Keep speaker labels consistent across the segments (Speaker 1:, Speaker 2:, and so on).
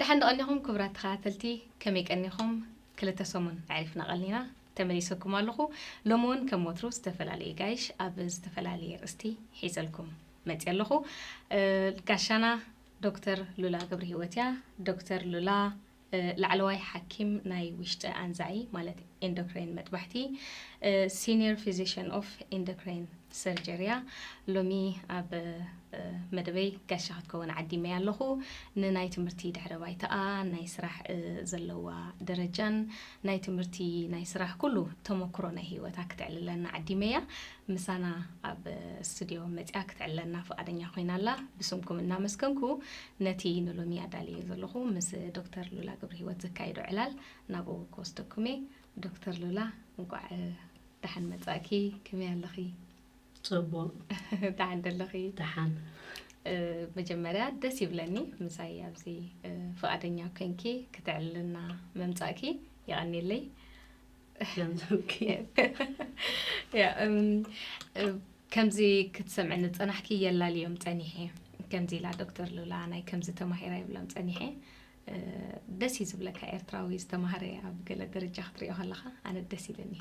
Speaker 1: ደሓን ዶ ቀኒኹም
Speaker 2: ክቡራት ተኸታተልቲ ከመይ ቀኒኹም ክልተ ሰሙን ኣዕሪፍና ቀኒና ተመሊሰኩም ኣለኹ ሎሚ ውን ከም ወትሩ ዝተፈላለዩ ጋይሽ ኣብ ዝተፈላለየ ኣርእስቲ ሒዘልኩም መፅየ ኣለኹ ጋሻና ዶክተር ሉላ ገብርሂወት እያ ዶክተር ሉላ ላዕለዋይ ሓኪም ናይ ውሽጢ ኣንዛዒ ማለት ኢንዶክራይን መጥባሕቲ ሲኒየር ፊዚሽን ኦፍ ኢንዶክራይን ሰርጀሪ እያ። ሎሚ ኣብ መደበይ ጋሻ ክትከውን ዓዲመያ ኣለኹ። ንናይ ትምህርቲ ድሕረ ባይታኣ፣ ናይ ስራሕ ዘለዋ ደረጃን ናይ ትምህርቲ ናይ ስራሕ ኩሉ ተመክሮ ናይ ህይወታ ክትዕልለና ዓዲመያ። ምሳና ኣብ ስቱድዮ መፅያ ክትዕለና ፍቓደኛ ኮይና ኣላ። ብስምኩም እናመስገንኩ ነቲ ንሎሚ ኣዳልዮ ዘለኹ ምስ ዶክተር ሉላ ገብረሂወት ዘካይዶ ዕላል ናብኡ ክወስደኩም እየ ዶክተር ሉላ እንቋዕ ደሓን መጻእኪ ከመይ ኣለኺ?
Speaker 3: ጽቡቕ ደሓን
Speaker 2: ደለኺ? ደሓን መጀመርያ ደስ ይብለኒ ምሳይ ኣብዚ ፍቓደኛ ኮንኪ ክተዕልልና ምምጻእኪ የቐኔለይ ከምዚ ክትሰምዕኒ ዝጸናሕኪ የላልዮም ጸኒሐ ከምዚ ኢላ ዶክተር ሉላ ናይ ከምዚ ተማሂራ ይብሎም ጸኒሐ ደስ እዩ ዝብለካ ኤርትራዊ ዝተማህረ ኣብ ገለ ደረጃ ክትሪኦ ከለካ ኣነ ደስ ኢለኒ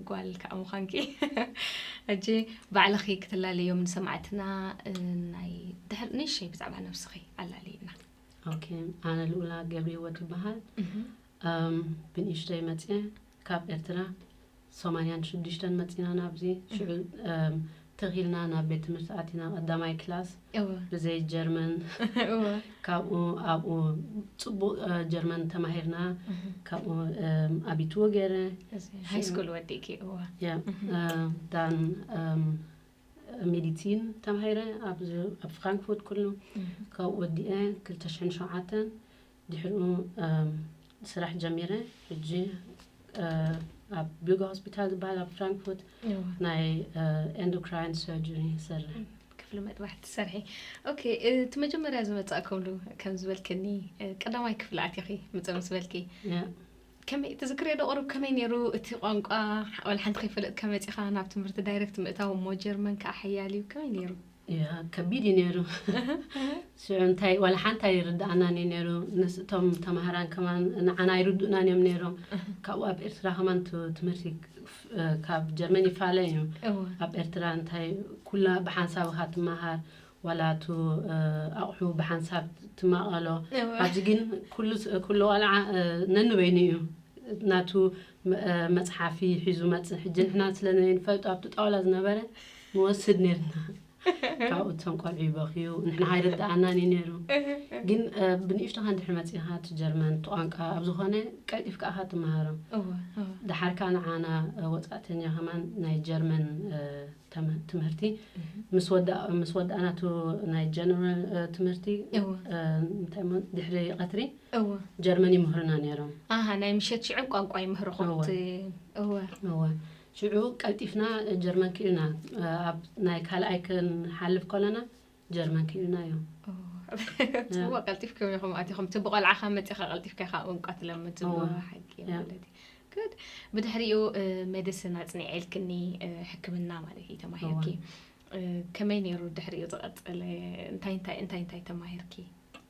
Speaker 2: ጓል ከዓ ምዃንኪ ሕጂ ባዕልኺ ክትላለዮም ንሰማዕትና ናይ ድሕር ንእሸይ ብዛዕባ ነብስኺ ኣላለዩና ኦኬ
Speaker 3: ኣነ ልኡላ ገብሪወት ይበሃል ብንእሽተይ መፅየ ካብ ኤርትራ ሰማንያን ሽዱሽተን መጺና ናብዚ ሽዑ ትኽ ኢልና ናብ ቤት ትምህርቲ ኣቲና ቀዳማይ ክላስ እወ ብዘይ ጀርመን እወ ካብኡ ኣብኡ ጽቡቕ ጀርመን ተማሂርና ካብኡ ኣቢት ወገረ እዚ ሃይ ስኩል
Speaker 2: ወዲእኪ እወ ያ
Speaker 3: ዳን ሜዲሲን ተማሂረ ኣብዚ ኣብ ፍራንክፉርት ኩሉ ካብኡ ወዲኤ ክልተ ሽሕን ሸውዓተን ድሕሪኡ ስራሕ ጀሚረ ሕጂ ኣብ ቢጋ ሆስፒታል ዝበሃል ኣብ ፍራንክፉርት ናይ ኤንዶክራይን ሰርጀሪ ይሰርሕ ክፍሊ መጥባሕ
Speaker 2: ትሰርሒ ኦኬ እቲ መጀመርያ ዝመፃእከምሉ ከም ዝበልክኒ ቀዳማይ ክፍሊ ኣትኺ ምፀ ምስ በልኪ ከመይ ትዝክርዮ ዶ ቁሩብ ከመይ ኔሩ እቲ ቋንቋ ወላ ሓንቲ ከይፈለጥካ መጺኻ ናብ ትምህርቲ ዳይረክት ምእታው እሞ ጀርመን ከኣ ሓያል እዩ ከመይ ኔሩ? ያ ከቢድ
Speaker 3: እዩ ኔሩ ሽዑ እንታይ ወላ ሓንቲ ኣይርድኣናን እዩ ኔሩ ንስ እቶም ተማሃራን ከማን ንዓና ኣይርድኡናን እዮም ኔሮም ካብኡ ኣብ ኤርትራ ከማን ትምህርቲ ካብ ጀርመን ይፋለ እዩ እወ ኣብ ኤርትራ እንታይ ኩላ ብሓንሳብኻ ትመሃር ዋላ እቱ ኣቑሑ ብሓንሳብ ትማቐሎ ኣብዚ ግን ኩሉ ቆልዓ ነንበይኑ እዩ ናቱ መፅሓፊ ሒዙ መፅእ ሕጂ ንሕና ስለዘይንፈልጦ ኣብቲ ጣውላ ዝነበረ ንወስድ ነርና ካብኡ እቶም ቆልዑ ይበኽዩ ንሕና ኣይርድኣናን እዩ ነይሩ ግን ብንእሽቶኻ እንድሕር መፂእኻ እቲ ጀርመን እቲ ቋንቋ ኣብ ዝኾነ ቀልጢፍ ከኣኻ ትመሃሮ ደሓር ከዓ ንዓና ወፃእተኛ ከማን ናይ ጀርመን ትምህርቲ ምስ ወዳእና እቲ ናይ ጀነራል ትምህርቲ እንታይ ድሕሪ ቀትሪ ጀርመን ይምህሩና ነይሮም ናይ ምሸት ሽዑ
Speaker 2: ቋንቋ ይምህርኹም
Speaker 3: እወ ሽዑ ቀልጢፍና ጀርመን ክኢልና ኣብ ናይ ካልኣይ ክንሓልፍ ከለና ጀርመን ኪኑና ዮም
Speaker 2: ጽቡቅ ቀልጢፍኩም ኢኹም ኣቲኹም እቲ ብቆልዓኻ መጺኻ ቀልጢፍካ ኢኻ ቋንቋ ትለምድ ጽቡቅ ሓቂ ማለት እዩ good ብድሕሪኡ ሜዲሲን ኣጽኒዐልክኒ ሕክምና ማለት እዩ ተማሂርኪ ከመይ ነይሩ ድሕሪኡ ዝቐጽለ እንታይ እንታይ እንታይ እንታይ ተማሂርኪ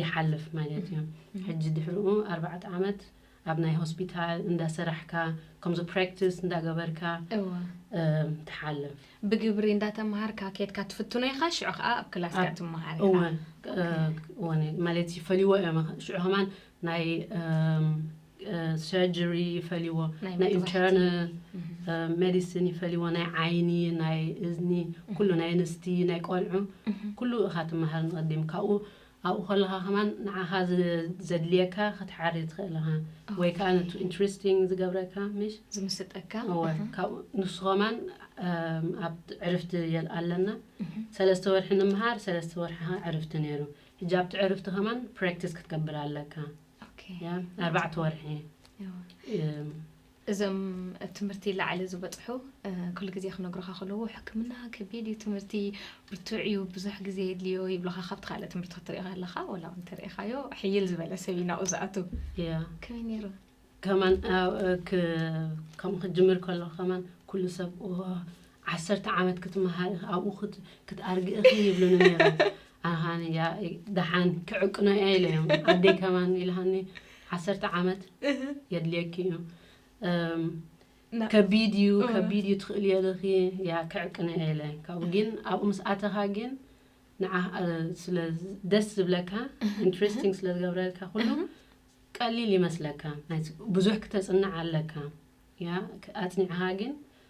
Speaker 3: ይሓልፍ ማለት እዩ ሕጂ ድሕርኡ ኣርባዕተ ዓመት ኣብ ናይ ሆስፒታል እንዳሰራሕካ ከምዚ ፕራክቲስ እንዳገበርካ ትሓልፍ ብግብሪ
Speaker 2: እንዳተምሃርካ ኬትካ ትፍትኖ ኢኻ ሽዑ ከዓ ኣብ ክላስካ ትምሃር
Speaker 3: ኢኻ ማለት ይፈልይዎ እዮም ሽዑ ከማን ናይ ሰርጀሪ ይፈልይዎ ናይ ኢንተርነ ሜዲሲን ይፈልይዎ ናይ ዓይኒ ናይ እዝኒ ኩሉ ናይ ኣንስቲ ናይ ቆልዑ ኩሉ እኻ ትመሃር ንቐዲም ካብኡ ኣብኡ ከለኻ ከማን ንዓኻ ዘድልየካ ክትሓሪ ትኽእል ኢኻ ወይ ከዓ ነቱ ኢንትረስቲንግ ዝገብረካ ምሽ ዝምስጠካ
Speaker 2: ካብኡ
Speaker 3: ንሱ ከማን ኣብ ዕርፍቲ ኣለና ሰለስተ ወርሒ ንምሃር ሰለስተ ወርሒ ዕርፍቲ ነይሩ ሕጂ ኣብቲ ዕርፍቲ ከማን ፕራክቲስ ክትገብር ኣለካ
Speaker 2: ኣርባዕተ
Speaker 3: ወርሒ
Speaker 2: እዞም ኣብ ትምህርቲ ላዕሊ ዝበፅሑ ኩሉ ግዜ ክነግሩካ ከለዎ ሕክምና ከቢድ እዩ ትምህርቲ ብርቱዕ እዩ ብዙሕ ግዜ የድልዮ ይብሉካ ካብቲ ካልእ ትምህርቲ ክትሪኦ ከለካ ወላ እውን ተሪኢካዮ ሕይል ዝበለ ሰብ እዩ ናብኡ ዝኣቱ ከመይ ነይሩ ከማን
Speaker 3: ከምኡ ክትጅምር ከሎ ከማን ኩሉ ሰብ ዓሰርተ ዓመት ክትመሃር ኢኺ ኣብኡ ክትኣርጊ ኢኺ ይብሉኒ ነይሮም ኣሃ ያ ደሓን ክዕቅኖ እያ ኢለዮም ኣደይ ከማን ኢልሃኒ ዓሰርተ ዓመት የድልየኪ እዩ ከቢድ እዩ ከቢድ እዩ ትኽእል የልኺ ያ ክዕቅነ የለ ካብኡ ግን ኣብኡ ምስ ኣተኻ ግን ንዓ ስለ ደስ ዝብለካ ኢንትረስቲንግ ስለ ዝገብረልካ ኩሉ ቀሊል ይመስለካ ብዙሕ ክተፅንዕ ኣለካ ያ ኣፅኒዕኻ ግን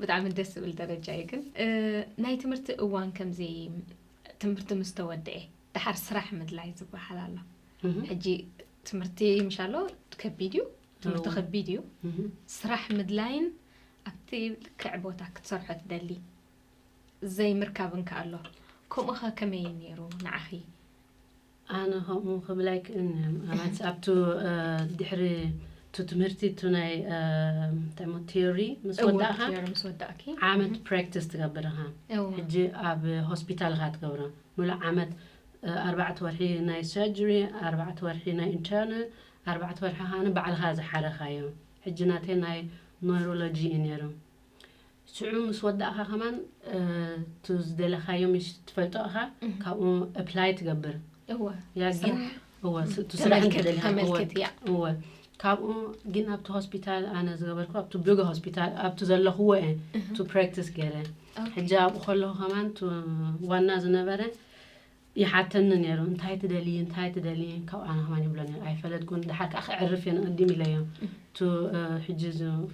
Speaker 2: ብጣዕሚ ደስ ዝብል ደረጃ እዩ ግን ናይ ትምህርቲ እዋን ከምዚ ትምህርቲ ምስ ተወድኤ ድሓር ስራሕ ምድላይ ዝበሃል ኣሎ ሕጂ ትምህርቲ ምሻ ኣሎ ከቢድ እዩ ትምህርቲ ከቢድ እዩ ስራሕ ምድላይን ኣብቲ ልክዕ ቦታ ክትሰርሖ ትደሊ ዘይምርካብን ከ ኣሎ ከምኡ ከ ከመይ እዩ ነይሩ ንዓኺ ኣነ
Speaker 3: ከምኡ ክብል ኣይክእልን እየ ማለት ኣብቱ ድሕሪ እቱ ትምህርቲ እቱ ናይ እንታይ እሞ ቲዮሪ ምስ እወ ወዳእካ ቲዮሪ ምስ ወዳእኪ ዓመት ፕራክቲስ ትገብር ኢኻ እወ ሕጂ ኣብ ሆስፒታል ኢኻ ትገብሮ ምሉእ ዓመት እ፣ ኣርባዕተ ወርሒ ናይ ሰርጀሪ ኣርባዕተ ወርሒ ናይ ኢንተርናል ኣርባዕተ ወርሒ ኸኣ ባዕልኻ ዝሓረኻዮ ሕጂ ናተይ ናይ ኖይሮሎጂ እዩ ነይሩ ሽዑ ምስ ወዳእካ ከማን እቲ ዝደለካዮ ምሽ ትፈልጦ እካ ካብኡ ኣፕላይ ትገብር እወ ያ ግን ስራሕ እወ ስ- እቲ ስራሕ ተመልክት- እንተደሊካ ተመልክት እያ። እወ እወ ካብኡ ግን ኣብቲ ሆስፒታል ኣነ ዝገበርኩ ኣብቲ ብገ ሆስፒታል ኣብቲ ዘለኹዎ እየ ቱ ፕራክቲስ ገይረ ሕጂ ኣብኡ ከለኹ ከማን ቱ ዋና ዝነበረ ይሓተኒ ነይሩ እንታይ ትደልዪ እንታይ ትደልዪ ካብኣ ንኸማን ይብሎ ነይሩ ኣይፈለጥኩን ድሓር ከዓ ከዕርፍ እየ ንቐዲም ኢለዮ እቱ ሕጂ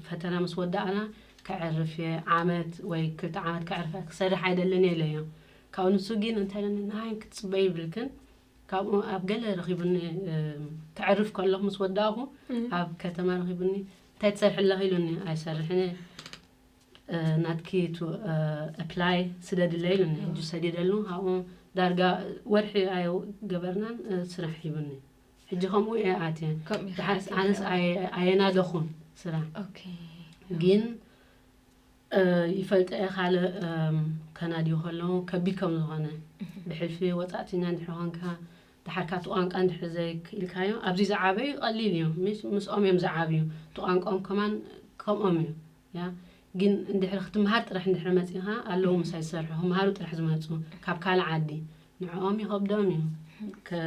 Speaker 3: ፈተና ምስ ወዳእና ከዕርፍ እየ ዓመት ወይ ክልተ ዓመት ከዕርፍ ክሰርሕ ኣይደልን እየ ኢለዮ ካብኡ ንሱ ግን እንታይ ኢለኒ ንሃይን ክትፅበይ ይብልክን ካብኡ ኣብ ገለ ረኺቡኒ ከዕርፍ ከለኹ ምስ ወዳእኹ ኣብ ከተማ ረኺቡኒ እንታይ ትሰርሒ ኣለኺ ኢሉኒ ኣይሰርሕን እየ ናትኪ ቱ ኣፕላይ ስደድለይ ኢሉኒ ሕጂ ሰዲደሉ ካብኡ ዳርጋ ወርሒ ኣይገበርናን ስራሕ ሂቡኒ ሕጂ ከምኡ እየ ኣትየ ከምኡ ኢኻ ድሓርስ ኣትየ ኣነስ ዘለኻ። ኣየ- ኣየናደኹን ስራሕ ኦኬ
Speaker 2: ግን
Speaker 3: እ፣ ይፈልጠ እየ ካልእ እም፣ ከናድዩ ከለዉ ከቢድ ከም ዝኾነ ብሕልፊ ወፃእተኛ እንድሕር ኮንካ ድሓር ካብቲ ቋንቋ እንድሕር ዘይክኢልካዮ ኣብዚ ዝዓበዩ ቀሊል እዩ ምስ- ምስኦም እዮም ዝዓብዩ እቲ ቋንቋኦም ከማን ከምኦም እዩ እያ ግን እንድሕር ክትምሃር ጥራሕ እንድሕር መጺኻ ኣለዉ ምሳይ ዝሰርሑ ክምሃሩ ጥራሕ ዝመጹ ካብ ካልእ ዓዲ ንዕኦም ይኸብዶም እዩ ከ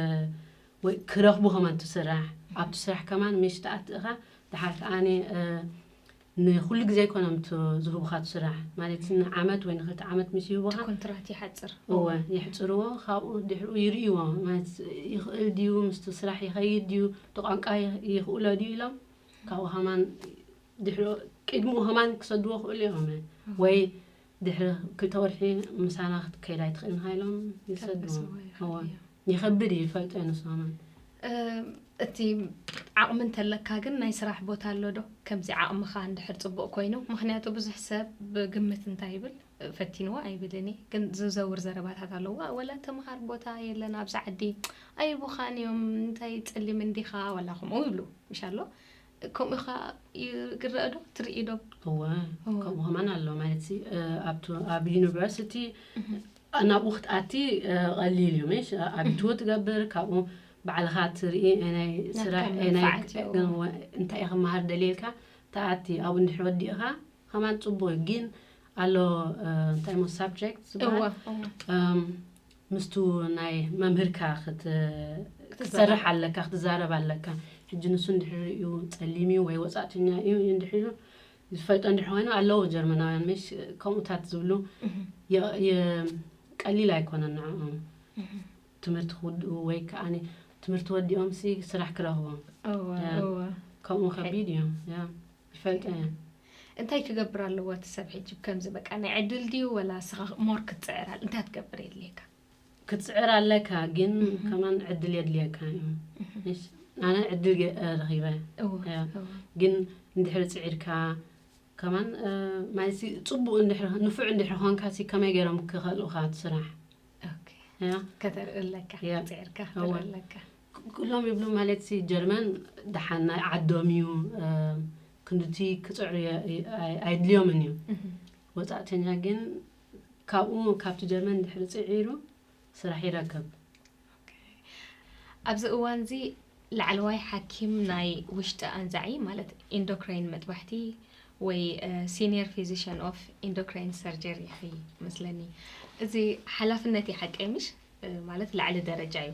Speaker 3: ወይ ክረኽቡ ከማን ትስራሕ ኣብቲ ስራሕ ከማን ምሽ ተኣትእኻ ድሓር ከኣኒ ንኩሉ ግዜ ኣይኮነም ዝህቡካ ትስራሕ ማለት ንዓመት ወይ ንክልተ ዓመት ምስ ይህቡካ ኮንትራት ይሓፅር
Speaker 2: እወ ይሕፅርዎ
Speaker 3: ካብኡ ድሕሪኡ ይርእይዎ ማለት ይኽእል ድዩ ምስቲ ስራሕ ይኸይድ ድዩ እቲ ቋንቋ ይኽእሎ ድዩ ኢሎም ካብኡ ሃማን ድሕሪ ቅድሚኡ ከማን ክሰድዎ ክእሉ እዮም ወይ ድሕሪ ክልተ ወርሒ ምሳና ክትከይድ ኣይትኽእልን ሃይሎም ይሰድዎ ይኸብድ እዩ ይፈልጦ እዩ ንሱ ከማን እቲ ዓቕሚ እንተለካ ግን ናይ ስራሕ ቦታ ኣሎ ዶ ከምዚ ዓቕምኻ እንድሕር ፅቡቅ ኮይኑ ምክንያቱ ብዙሕ ሰብ ብግምት እንታይ ይብል ፈቲንዎ ኣይብልን ግን ዝዘውር ዘረባታት ኣለዎ ወላ ተምሃር ቦታ የለን ኣብዚ ዓዲ ኣይቡኻን እዮም እንታይ ፅሊም እንዲኻ ወላ ከምኡ ይብሉ ምሻ ኣሎ ከምኡ ኸ ይረአ ዶ ትርኢ ዶ እወ ከምኡ ከማን ኣሎ ማለት ኣብ ዩኒቨርሲቲ ናብኡ ክትኣቲ ቀሊል እዩ ምሽ ኣብትዎ ትገብር ካብኡ ባዕልኻ ትርኢ ናይ ስራሕ እንታይ ክመሃር ደልየልካ ተኣቲ ኣብኡ እንድሕር ወዲእኻ ከማን ፅቡቅ እዩ ግን ኣሎ እንታይ ሞ ሳብጀክት ዝበሃል ምስቱ ናይ መምህርካ ክትሰርሕ ኣለካ ክትዛረብ ኣለካ ሕጂ ንሱ እንድሕር ሪኡ ጸሊም እዩ ወይ ወጻእተኛ እዩ እንድሕር ኢሉ ዝፈልጦ እንድሕር ኮይኑ ኣለዉ ጀርመናውያን ምሽ ከምኡታት ዝብሉ ቀሊል ኣይኮነን ንዕኦም ትምህርቲ ክውድኡ ወይ ከዓ ትምህርቲ ወዲኦም ሲ ስራሕ ክረኽቦም ከምኡ ከቢድ እዩ ይፈልጣ እየን እንታይ
Speaker 2: ክገብር ኣለዎ እቲ ሰብ ሕጂ ከምዚ በቃ ናይ ዕድል ድዩ ወላ ንስኻ ሞር ክትፅዕር ኣል እንታይ ትገብር የድልየካ ክትፅዕር
Speaker 3: ኣለካ ግን ከማን ዕድል የድልየካ እዩ ኣነ ዕድል ረኺበ ግን እንድሕሪ ፅዒርካ ከማን ማለት ፅቡቅ እንድሕሪ ንፉዕ እንድሕሪ ኮንካ ሲ ከመይ ገይሮም ክኸልኡካ ትስራሕ
Speaker 2: ከተርኢ ኣለካ ፅዒርካ ኣለካ ኩሎም ይብሉ
Speaker 3: ማለትሲ ጀርመን ደሓን ናይ ዓዶም እዩ ክንድቲ ክፅዕሩ ኣይድልዮምን እዩ ወፃእተኛ ግን ካብኡ ካብቲ ጀርመን ድሕሪ ፅዒሩ ስራሕ ይረከብ
Speaker 2: ኣብዚ እዋን እዚ ላዕለዋይ ሓኪም ናይ ውሽጢ ኣንዛዒ ማለት ኢንዶክራይን መጥባሕቲ ወይ ሲኒየር ፊዚሽን ኦፍ ኢንዶክራይን ሰርጀሪ ይኸይ መስለኒ እዚ ሓላፍነት ይሓቀይ ምሽ ማለት ላዕሊ ደረጃ እዩ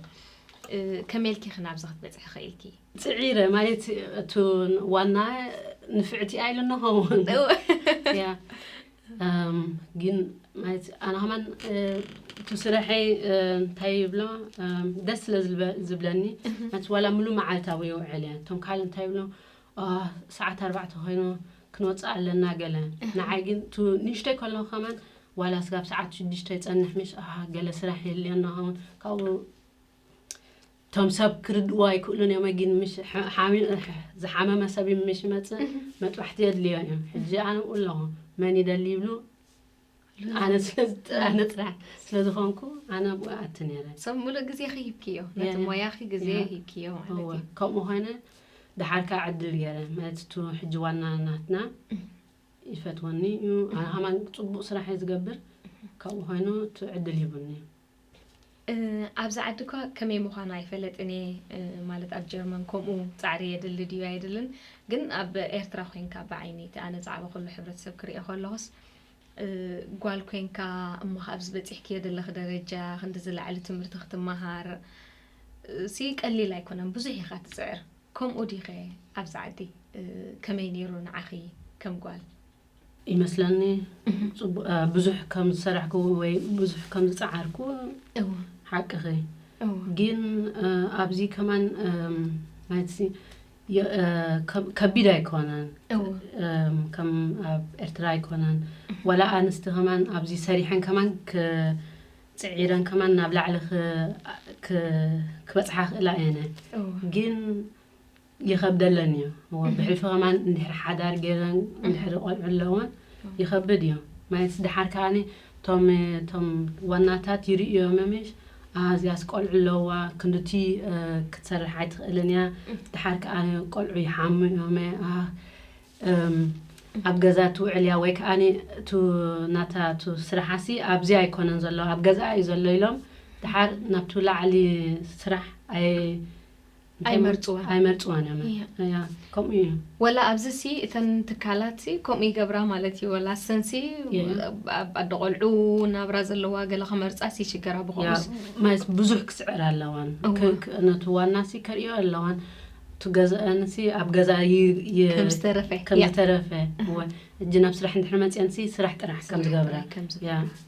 Speaker 2: ከመልኪ ክናብዚ ክትበፅሒ ኸኢልኪ ፅዒረ ማለት
Speaker 3: እቲ ዋና ንፍዕቲ ኣይሉ ነሆ ግን ማለት ኣነ ከማን እቲ ስረሐይ እንታይ ይብሎ ደስ ስለ ዝብለኒ ማለት ዋላ ሙሉ መዓልቲ ኣብኡ ይውዕል እየ እቶም ካልእ እንታይ ይብሎ ኣህ ሰዓት ኣርባዕተ ኮይኑ ክንወጽእ ኣለና ገለ ንዓይ ግን ቱ ንእሽተይ ከለኹ ከማን ዋላ ስጋብ ሰዓት ሽዱሽተ ይጸንሕ ምሽ ኣሃ ገለ ስራሕ የልዮ ናኸውን ካብኡ እቶም ሰብ ክርድእዎ ኣይክእሉን እዮም ኣጊን ምሽ ዝሓመመ ሰብ ምሽ ይመጽእ መጥባሕቲ የድልዮ እዮም ሕጂ ኣነብኡ ኣለኹ መን ይደሊ ይብሉ ኣነ ስለዝጥራነ ጥራሕ ስለዝኾንኩ ኣነ ኣብኡ ኣቲ ነረ ሰብ ሙሉእ ግዜኺ ሂብክዮ
Speaker 2: ነቲ ሞያኺ ግዜ ሂብክዮ ማለት ከምኡ
Speaker 3: ኾነ ድሓር ከዓ ዕድል ገረ ማለት እቲ ሕጂ ዋና ናትና ይፈትወኒ እዩ ኣነ ከማን ፅቡቅ ስራሕ እየ ዝገብር ካብኡ ኮይኑ እቲ ዕድል ሂቡኒ እዩ
Speaker 2: ኣብዚ ዓዲ እኳ ከመይ ምዃኑ ኣይፈለጥን እየ፣ ማለት ኣብ ጀርመን ከምኡ ጻዕሪ የድሊ ድዩ ኣየድልን፣ ግን ኣብ ኤርትራ ኮይንካ ብዓይኒ እቲ ኣነ ዛዕባ ኩሉ ሕብረተሰብ ክርእዮ ከለኹስ ጓል ኮይንካ እሞ ኣብዚ በጺሕክዮ ዘለኺ ደረጃ ክንዲ ዝለዓለ ትምህርቲ ክትመሃር ሲ ቀሊል ኣይኮነን፣ ብዙሕ ኢኻ ትጽዕር። ከምኡ ዲኸ ኣብዚ ዓዲ ከመይ ነይሩ ንዓኺ ከም ጓል? ይመስለኒ
Speaker 3: ብዙሕ ከም ዝሰራሕኩ ወይ ብዙሕ ከም ዝፀዓርኩ ሓቅኺ ግን ኣብዚ ከማን ናይዚ ከቢድ ኣይኮነን ከም ኣብ ኤርትራ ኣይኮነን ዋላ ኣንስቲ ከማን ኣብዚ ሰሪሐን ከማን ፅዒረን ከማን ናብ ላዕሊ ክበፅሓ ክእላ እየነ ግን ይኸብደለን እዩ እወ ብሕልፊ ከማን እንድሕር ሓዳር ገይረን እንድሕር ቆልዑ ኣለወን ይኸብድ እዩ ማይስ ድሓር ከዓኒ ቶም ቶም ዋናታት ይርእዮመ ምሽ ኣ እዚኣስ ቆልዑ ኣለዋ ክንድቲ ክትሰርሕ ኣይትኽእልን እያ ድሓር ከኣ ቆልዑ ይሓሙ እዮመ ኣብ ገዛ ትውዕል እያ ወይ ከዓኒ እቱ ናታ እቱ ስራሓሲ ኣብዚ ኣይኮነን ዘሎ ኣብ ገዛኣ እዩ ዘሎ ኢሎም ድሓር ናብቲ ላዕሊ ስራሕ ኣይ ኣይመርጽዋን ኣይመርጽዋን እዮም እያ እያ ከምኡ እዩ ወላ ኣብዚ
Speaker 2: ሲ እተን ትካላት ሲ ከምኡ ይገብራ ማለት እዩ ወላ ሰን ሲ እየ። ኣብ ኣደ ቆልዑ ናብራ ዘለዋ ገለ ክመርጻ ሲ ይሽገራ ያ ብኸምኡስ ማለት ብዙሕ
Speaker 3: ክስዕር ኣለዋን እወ። ከ- ከ- ነቲ ዋናሲ ከርእዮ ኣለዋን እቲ ገዛኣንሲ ኣብ ገዛ ይ- ይ- ከም
Speaker 2: ዝተረፈ ከም ያ ዝተረፈ
Speaker 3: እወ እጂ ናብ ስራሕ እንድሕር መፅአንሲ ስራሕ ጥራሕ ከም ዝገብራ ጥራይ ከም ያ ዝገብራ።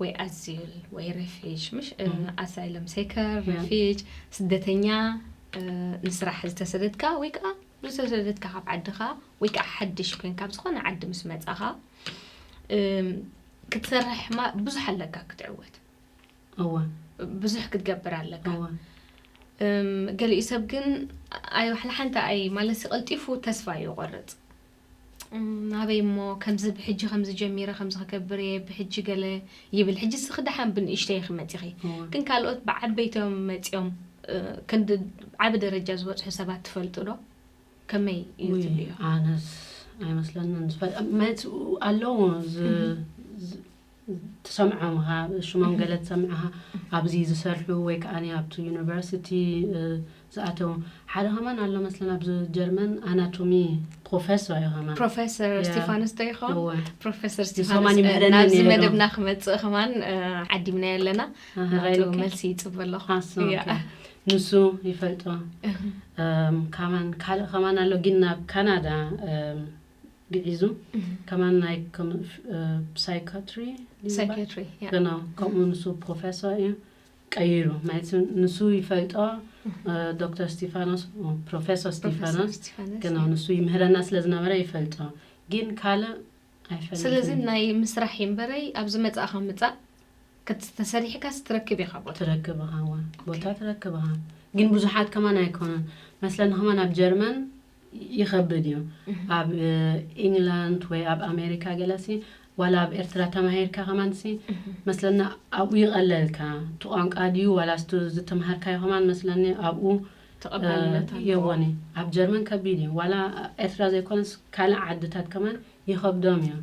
Speaker 2: ወይ ኣዚል ወይ ረፊጅ ምሽ ኣሳይለም ሴከር ረፊጅ ስደተኛ ንስራሕ ዝተሰደድካ ወይ ከዓ ዝተሰደድካ ካብ ዓድኻ ወይ ከዓ ሓድሽ ኮይንካ ኣብ ዝኾነ ዓዲ ምስ መፃኻ ክትሰርሕ ማ ብዙሕ ኣለካ ክትዕወት
Speaker 3: ብዙሕ
Speaker 2: ክትገብር ኣለካ ገሊኡ ሰብ ግን ኣይ ዋሕላ ሓንቲ ኣይ ማለት ቀልጢፉ ተስፋ ይቆርፅ ናበይ እሞ ከምዚ ብሕጂ ከምዚ ጀሚረ ከምዚ ክገብር እየ ብሕጂ ገለ ይብል ሕጂ ስኺ ደሓን ብንእሽተይ ኢኺ መጺኺ ግን ካልኦት ብዓበይቶም መጺኦም ክንዲ ዓቢ ደረጃ ዝበጽሑ ሰባት ትፈልጡ ዶ ከመይ እዩ ትብልዮ
Speaker 3: ኣነስ ኣይመስለንን ኣለዎ ትሰምዖም ኢኻ ሽሞም ገለ ትሰምዕ ኢኻ ኣብዚ ዝሰርሑ ወይ ከኣ ኣብቲ ዩኒቨርሲቲ ዝኣተው ሓደ ከማን ኣሎ መስለን ኣብዚ ጀርመን ኣናቶሚ ፕሮፌሰር እዩ ከማን ፕሮፌሰር እስጢፋኖስ
Speaker 2: ዶ ይኸውን ፕሮፌሰር
Speaker 3: እስጢፋኖስ ናብዚ መደብና ክመጽእ ከማን
Speaker 2: ዓዲምናዮ ኣለና ናቱ መልሲ ይጽበ ኣለኹ
Speaker 3: ንሱ ይፈልጦ ካማን ካልእ ከማን ኣሎ ግን ናብ ካናዳ ግዒዙ ከማን ናይ ሳይካትሪ ገናው ከምኡ ንሱ ፕሮፌሰር እዩ ቀይሩ ማለት ንሱ ይፈልጦ ዶክተር ስቲፋኖስ ፕሮፌሰር ስቲፋኖስ ግን ንሱ ይምህረና ስለ ዝነበረ ይፈልጦ ግን ካልእ ኣይፈልጥ ስለዚ
Speaker 2: ናይ ምስራሕ እምበረይ ኣብዚ መፃእኻ ምፃእ ተሰሪሕካ ስትረክብ ኢኻ ቦታ ትረክብ ኢኻ
Speaker 3: ቦታ ትረክብ ኢኻ ግን ብዙሓት ከማን ኣይኮነን መስለኒ ከማን ኣብ ጀርመን ይኸብድ እዩ ኣብ ኢንግላንድ ወይ ኣብ ኣሜሪካ ገለሲ ዋላ ኣብ ኤርትራ ተማሂርካ ከማንሲ መስለና ኣብኡ ይቐለልካ እቲ ቋንቋ ድዩ ዋላ ስቱ ዝተምሃርካዮ ከማን መስለኒ ኣብኡ
Speaker 2: የወኒ
Speaker 3: ኣብ ጀርመን ከቢድ እዩ ዋላ ኤርትራ ዘይኮነስ ካልእ ዓድታት ከማን ይኸብዶም እዮም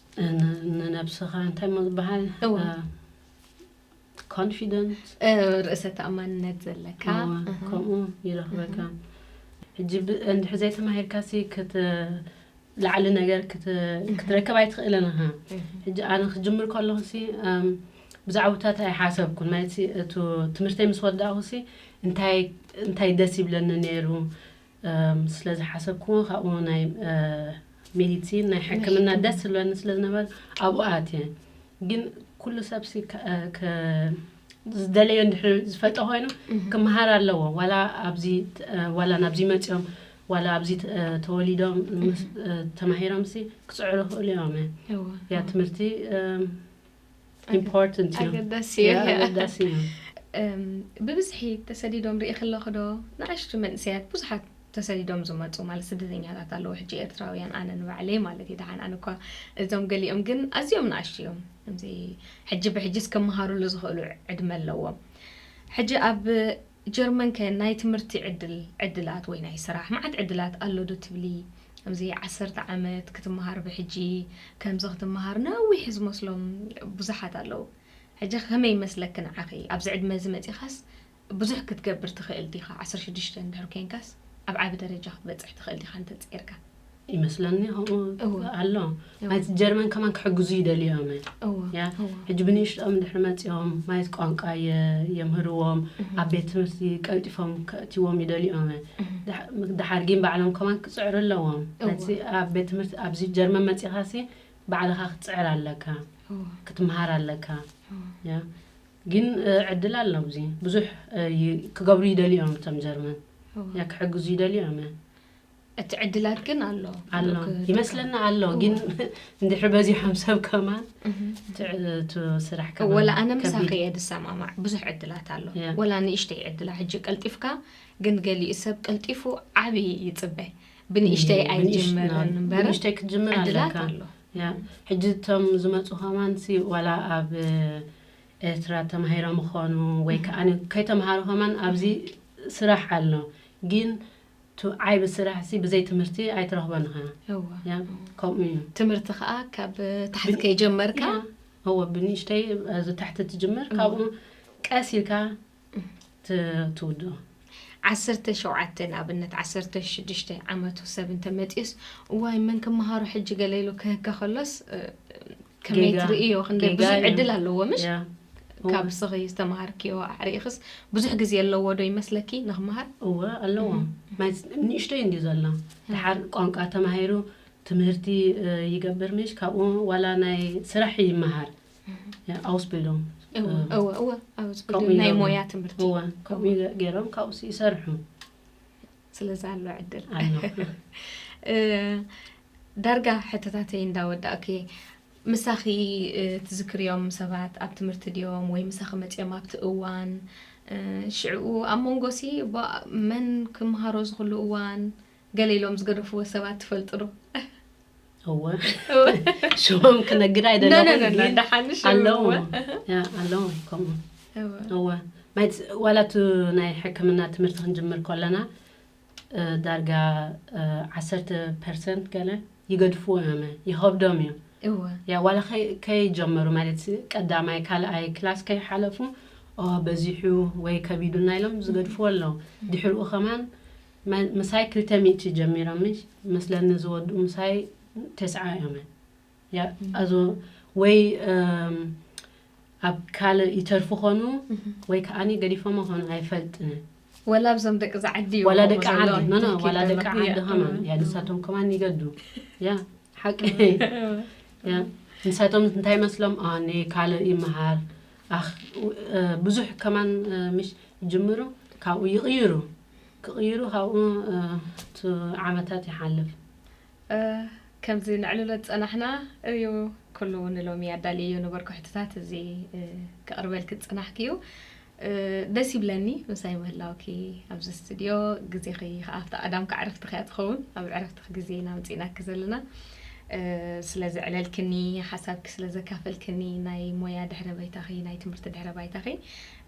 Speaker 3: ንነብስኻ እንታይ ምባሃል ኮንፊደንስ ርእሰ
Speaker 2: ተኣማንነት ዘለካ ከምኡ
Speaker 3: ይረኽበካ ሕጂ እንድሕር ዘይተማሂርካ ሲ ላዕሊ ነገር ክትረከብ ኣይትኽእልን ኢኻ ሕጂ ኣነ ክጅምር ከለኹ ሲ ብዛዕባታት ኣይሓሰብኩን ማለት እቲ ትምህርተይ ምስ ወዳእኹ ሲ እንታይ ደስ ይብለኒ ነይሩ ስለ ዝሓሰብክዎ ካብኡ ናይ ሜዲሲን ናይ ሕክምና ደስ ዝብለኒ ስለ ዝነበረ ኣብኡ ኣትየ ግን ኩሉ ሰብሲ ዝደለዮ እንድሕር ዝፈልጦ ኮይኑ ክመሃር ኣለዎ ዋላ ኣብዚ ዋላ ናብዚ መፅኦም ዋላ ኣብዚ ተወሊዶም ተማሂሮምሲ ክፅዕሩ ክእሉ እዮም እያ ትምህርቲ ኢምፖርታንት እዩ ኣገዳሲ እዩ። ያ፣ ኣገዳሲ
Speaker 2: እዩ እም፣ ብብዝሒ ተሰዲዶም ርኢኺ ኣለኺ ዶ ንኣሽቱ መንእሰያት ብዙሓት ተሰዲዶም ዝመጹ ማለት ስደተኛታት ኣለዉ ሕጂ ኤርትራውያን ኣነ ንባዕለይ ማለት እዩ ደሓን ኣነ እኳ እዞም ገሊኦም ግን ኣዝዮም ንኣሽቱ እዮም ከምዚ ሕጂ ብሕጂስ ክመሃሩሉ ዝኽእሉ ዕድመ ኣለዎም ሕጂ ኣብ ጀርመን ከ ናይ ትምህርቲ ዕድል ዕድላት ወይ ናይ ስራሕ ማዓት ዕድላት ኣሎ ዶ ትብሊ ከምዚ ዓሰርተ ዓመት ክትማሃር ብሕጂ ከምዚ ክትማሃር ነዊሕ ዝመስሎም ቡዛሓት ኣለዉ ሕጂ ከመይ ይመስለኪ ናዓኺ ኣብዚ ዕድመ እዚ መጺኻስ ቡዙሕ ክትገብር ትኽእል ዲኻ ዓሰርተ ሽዱሽተ እንድሕር ኮንካስ ኣብ ዓቢ ደረጃ ክትበጽሕ ትኽእል ዲኻ እንተ ጸይርካ ይመስለኒ
Speaker 3: ከምኡ ኣሎ ማለት ጀርመን ከማን ክሕግዙ ይደልዩ እዮም ያ ሕጂ ብንእሽቶም ድሕሪ መፂኦም ማለት ቋንቋ የምህርዎም ኣብ ቤት ትምህርቲ ቀልጢፎም ከእትዎም ይደልዩ እዮም ድሓር ግን ባዕሎም ከማን ክፅዕሩ ኣለዎም ኣብ ቤት ትምህርቲ ኣብዚ ጀርመን መፂኻ ሲ ባዕልኻ ክትፅዕር ኣለካ ክትምሃር ኣለካ ያ ግን ዕድል ኣሎ እዚ ብዙሕ ክገብሩ ይደልዩ እዮም እቶም ጀርመን ያ ክሕግዙ ይደልዩ እዮም እቲ ዕድላት
Speaker 2: ግን ኣሎ ኣሎ
Speaker 3: ይመስለና ኣሎ ግን እንድሕር በዚሖም ሰብ ከማን እቲ ስራሕ ከማን ወላ ኣነ ምሳኺ እየ
Speaker 2: ዝሰማማዕ ብዙሕ ዕድላት ኣሎ ወላ ንእሽተይ ዕድላ ሕጂ ቀልጢፍካ ግን ገሊኡ ሰብ ቀልጢፉ ዓብዪ ይፅበ ብንእሽተይ ኣይጀመርን እምበር ንእሽተይ ክትጅምር
Speaker 3: ዕድላት ኣለካ ኣሎ
Speaker 2: ያ ሕጂ
Speaker 3: እቶም ዝመፁ ከማንሲ ዋላ ኣብ ኤርትራ ተማሂሮም ይኾኑ ወይ ከዓ ከይተምሃሩ ከማን ኣብዚ ስራሕ ኣሎ ግን እቲ ዓይቢ ስራሕ ሲ ብዘይ ትምህርቲ ኣይትረኽቦን ኢኻ እወ ያ
Speaker 2: ከምኡ እዩ
Speaker 3: ትምህርቲ ከኣ
Speaker 2: ካብ ታሕቲ ብ- ከይጀመርካ ያ እወ ብንእሽተይ
Speaker 3: ኣብዚ ታሕቲ ትጅምር እወ ካብኡ ቀስ ኢልካ ት- ትውድኦ
Speaker 2: ዓሰርተ ሸውዓተ ንኣብነት ዓሰርተ ሽዱሽተ ዓመቱ ሰብ እንተመጺኡስ እዋይ መን ክመሃሮ ሕጂ ገለ ኢሉ ክህከ ከሎስ እ፣ ከመይ ጌጋ- ትርእዮ ክንደ ጌጋ ብዙሕ እዩ። ዕድል ኣለዎ ምሽ ያ። ካብ ስኺ ዝተምሃርክዮ ኣዕሪእኽስ ብዙሕ ግዜ ኣለዎ ዶ ይመስለኪ ንክምሃር እወ ኣለዎ
Speaker 3: ናይ ፅ- ንእሽቶይ እንድዩ ዘሎ ድሓር ቋንቋ ተማሂሩ ትምህርቲ እ፣ ይገብር ምሽ ካብኡ ዋላ ናይ ስራሕ ይመሃር ያ፣ ኣውስቢልዶም እወ እወ እወ
Speaker 2: ኣብ ዝብል ከምኡ ናይ ኢሎም- ሞያ ትምህርቲ እወ ከምኡ ገ-
Speaker 3: ገይሮም ካብኡስ ይሰርሑ ስለዚ
Speaker 2: ኣሎ ዕድል ዳርጋ ሕተታተይ እንዳወዳእኩ እየ ምሳኺ ትዝክርዮም ሰባት ኣብ ትምህርቲ ድዮም ወይ ምሳኺ መፅኦም ኣብቲ እዋን ሽዕኡ ኣብ መንጎ ሲ መን ክምሃሮ ዝኽሉ እዋን ገለ ኢሎም ዝገደፍዎ ሰባት ትፈልጡ ዶ
Speaker 3: እወ ሽሞም ክነግድ ኣይደለኹኣለዉ ኣለዉ ከምኡ እወ ዋላ እቲ ናይ ሕክምና ትምህርቲ ክንጅምር ከለና ዳርጋ ዓሰርተ ፐርሰንት ገለ ይገድፍዎ ዮመ ይኸብዶም እዩ ያ ዋላ ከይጀመሩ ማለት ቀዳማይ ካልኣይ ክላስ ከይሓለፉ በዚሑ ወይ ከቢዱና ኢሎም ዝገድፍዎ ኣለዉ ድሕርኡ ከማን ምሳይ ክልተ ሚእቲ ጀሚሮም መስለኒ ዝወድኡ ምሳይ ተስዓ እዮም ኣዞ ወይ ኣብ ካልእ ይተርፉ ኾኑ ወይ ከዓ ገዲፎሞ ኾኑ ኣይፈልጥን ወላ ኣብዞም ደቂ
Speaker 2: ዝዓዲ እዩ ዋላ ደቂ ዓዲ ኖ ኖ
Speaker 3: ዋላ ደቂ ዓዲ ከማን ያ ንሳቶም ከማን ይገዱ ያ ሓቂ ያ ንሳቶም እንታይ መስሎም ኣነ ካልእ ይመሃር ኣኽ ብዙሕ ከማን ምሽ ይጅምሩ ካብኡ ይቕይሩ ክቕይሩ ካብኡ ቱ ዓመታት ይሓልፍ።
Speaker 2: ከምዚ ነዕልሎ ዝጸናሕና እዩ ኩሉ ንሎሚ ኣዳልየዮ ነበርኩ ሕቶታት እዚ ከቕርበልኪ ዝጸናሕክዩ ደስ ይብለኒ ምሳይ ምህላውኪ ኣብዚ ስትድዮ ግዜኺ ከኣ ኣብቲ ቀዳም ከዕርፍቲ ከያ ትኸውን ኣብ ዕረፍትኺ ግዜ ኢና ኣምጺእናኪ ዘለና ስለ ዘዕለልክኒ ሓሳብኪ ስለ ዘካፈልክኒ ናይ ሞያ ድሕረ ባይታኺ ናይ ትምህርቲ ድሕረ ባይታኺ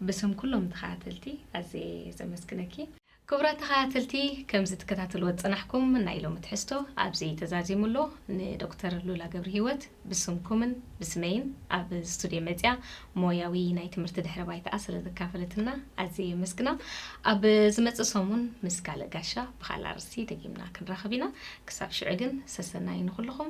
Speaker 2: ብስም ኩሎም ተኸታተልቲ ኣዝየ ዘመስግነኪ። ክቡራት ተኸታተልቲ ከምዚ ትከታተልዎ ዝጸናሕኩም ናይ ሎሚ ትሕዝቶ ኣብዚ ተዛዚሙ ኣሎ። ንዶክተር ሉላ ገብርሂወት ብስምኩምን ብስመይን ኣብ ስቱድዮ መጺኣ ሞያዊ ናይ ትምህርቲ ድሕረ ባይታኣ ስለ ዘካፈለትና ኣዝየ የመስግና። ኣብ ዝመጽእ ሰሙን ምስ ካልእ ጋሻ ብኻልእ ኣርእስቲ ደጊምና ክንራኸብ ኢና። ክሳብ ሽዑ ግን ሰሰናዩ ንኹልኹም።